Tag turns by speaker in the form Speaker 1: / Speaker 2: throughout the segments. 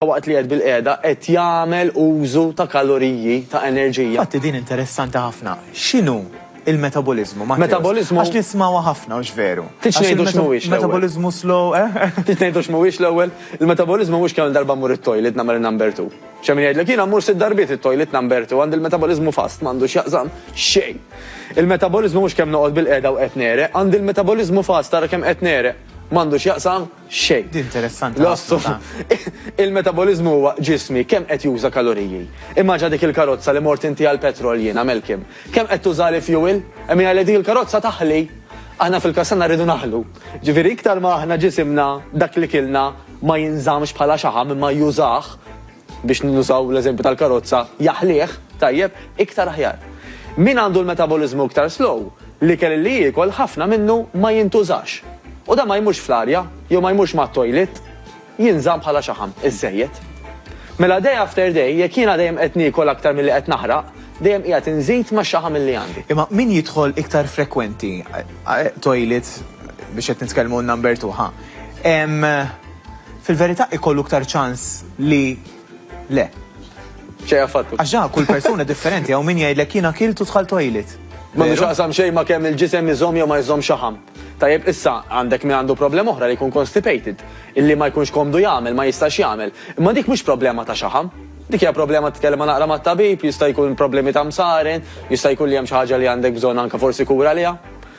Speaker 1: waqt li qiegħed bilqiegħda qed jagħmel użu ta' kaloriji, ta' enerġija. Infatti din interessanti ħafna. X'inhu l-metaboliżmu, Matteus? Metaboliżmu. Għax nismgħuha ħafna, hux veru? Tridx ngħidu x'mhuwiex l-ewwel? Metaboliżmu slow, eh? Trid ngħidu x'mhuwiex l-ewwel? Il-metaboliżmu mhux kemm-il darba mmur it-toilet nagħmel in-number two. X'hemm min jgħidlek, jiena mmur sitt darbiet it-toilet number two, għandi l-metaboliżmu fast, m'għandu x'jaqsam xejn. Il-metaboliżmu mhux kemm noqgħod bilqiegħda u qed negħreq, għandi l-metaboliżmu fast, ara kemm qed negħreq. M'għandu x'jaqsam. xejn. Din interessanti ħafna. L-ossum. Il-metaboliżmu huwa ġismi kemm qed juża kaloriji. Immaġina dik il-karozza li mort inti għall-petrol jien, għamel kim. Kemm qed tuża li fuel? Hemm jgħid li dik il-karozza taħli. Aħna fil-każ tagħna rridu naħlu. Ġifieri iktar ma aħna ġisimna dak li kilna ma jinżammx bħala xaħam imma jużah, biex nużaw l-eżempju tal-karozza, jaħlih, tajjeb, iktar aħjar. Min għandu l-metaboliżmu iktar slow, l-ikel li jiekol ħafna minnu ma jintużax. U dan ma jmurx fl-arja, jew ma jmurx mat-toilet, jinżamm bħala xaħam, iżżejjed. Mela day after day, jekk jiena dejjem qed niekol aktar milli qed naħraq, dejjem qiegħed inżid max-xaħam illi għandi. Imma min jidħol iktar frekwenti toilet, biex qed nitkellmu number two, ħa, hemm, Fil-verità ikollu iktar ċans li le. Xejn affattu. Għax ġa kull persuna differenti hawn min jgħidlek jien akilt u dħalt tojlit. M'għandu x'jaqsam xejn ma' kemm il-ġisem iżomm jew ma jżomm xaħam. Tajjeb, issa għandek min għandu problema oħra li jkun constipated, illi ma jkunx komdu jagħmel, ma jistax jagħmel. Imma dik mhux problema ta' xaħam. Dik hija problema titkellem ma' naqra mat-tabib, jista' jkun problemi ta' msaren, jista' jkun li hemm xi ħaġa li għandek bżonn anke forsi kura għaliha.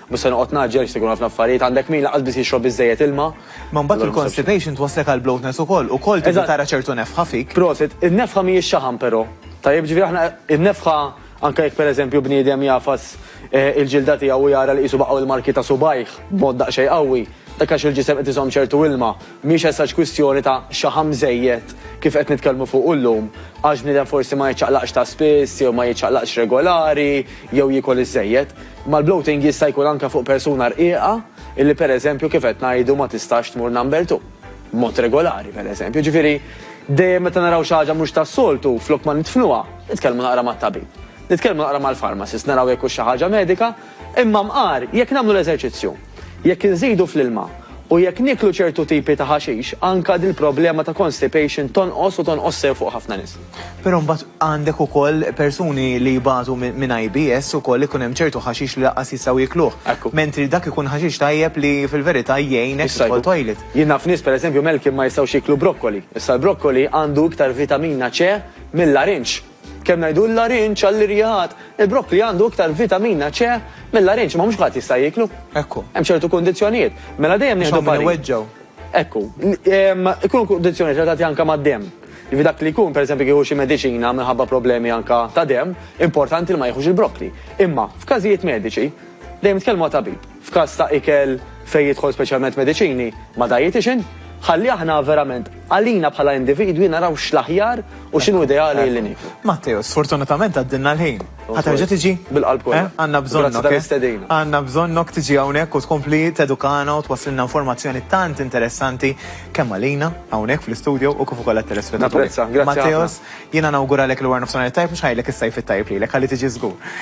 Speaker 1: Mhux se noqgħod ngħaġġel għax se jkun ħafna affarijiet, għandek min lanqas biss jixrob biżżejjed ilma. Ma mbagħad il-constipation twasslek għal bloatness ukoll, ukoll tibda tara ċertu nefħa fik. Prosit, in-nefħa mhijiex xaħam però. Tajjeb, ġifieri aħna in-nefħa anke jekk pereżempju bniedem jagħfas il-ġilda tiegħu u jara li qisu baqgħu l-marki ta' subgħajh b'mod daqsxejn qawwi, dak għax il-ġisem qed iżomm ċertu ilma. Mhijiex as such kwistjoni ta' xaħam żejjed kif qed nitkellmu fuqu llum, għax bniedem forsi ma jiċċaqlaqx ta' spiss jew ma jiċċaqlaqx regolari, jew jiekol iżżejjed, imma l-bloating jista' jkun anke fuq persuna rqiqa illi pereżempju kif qed ngħidu ma tistax tmur number two b'mod regolari pereżempju. Jiġifieri dejjem meta naraw xi ħaġa mhux tas-soltu flok ma nidfnuha, nitkellmu naqra mat-tabib, nitkellmu naqra mal-pharmacist naraw jekk hux xi ħaġa medika, imma mqar jekk nagħmlu l-eżerċizzju, jekk inżidu fl-ilma u jekk nieklu ċertu tipi ta' ħaxix anke dil-problema ta' constipation tonqos u tonqos sew fuq ħafna nies. Però mbagħad għandek ukoll persuni li jbatu minn IBS ukoll ikun hemm ċertu ħaxix li lanqas jistgħu jikluh. Ekku. Mentri dak ikun ħaxix tajjeb li fil-verità jgħinek tidħol toilet. Jien naf nies pereżempju Malcolm ma jistgħux jiklu brokkoli. Issa l-brokkoli għandu iktar vitamina C mill-larinġ. Kemm ngħidu l-larinġ għall-irjigħat, il-brokkli għandu iktar vitamina C mill-larinġ imma mhux kulħadd jista' jiklu. Ekku. Hemm ċertu kundizzjonijiet. Mela dejjem nieħdu. Iweġġgħu. Ekku. Ikunu kundizzjonijiet relatati anke mad-demm. Jiġifieri dak li jkun, pereżempju kieku xi mediċina minħabba problemi anke ta' demm, importanti li ma jieħux il-brokkli. Imma, f'każijiet mediċi, dejjem tkellmu ma' tabib. F'każ ta' ikel fejn jidħol speċjalment mediċini, ma' dietician, ħalli aħna verament, għalina bħala individwi naraw x'l-aħjar u x'inhu ideali li nieklu. Matteo, sfortunatament għaddilna l-ħin. Ħa terġa' tiġi? Bil-qalb kollha. Eh? Għandna bżonnok. Grazzi tal-istedina. Għandna bżonnok tiġi hawnhekk u tkompli tedukana u twasslilna informazzjoni tant interessanti kemm għalina hawnhekk fl-istudio u kif ukoll għat-telespettaturi. Napprezza, grazzi ħafna. Matteos, jiena nawguralek l-wara nofsinhar it-tajjeb, mhux ħanejlek is-sajf it-tajjeb lilek, ħalli tiġi żgur.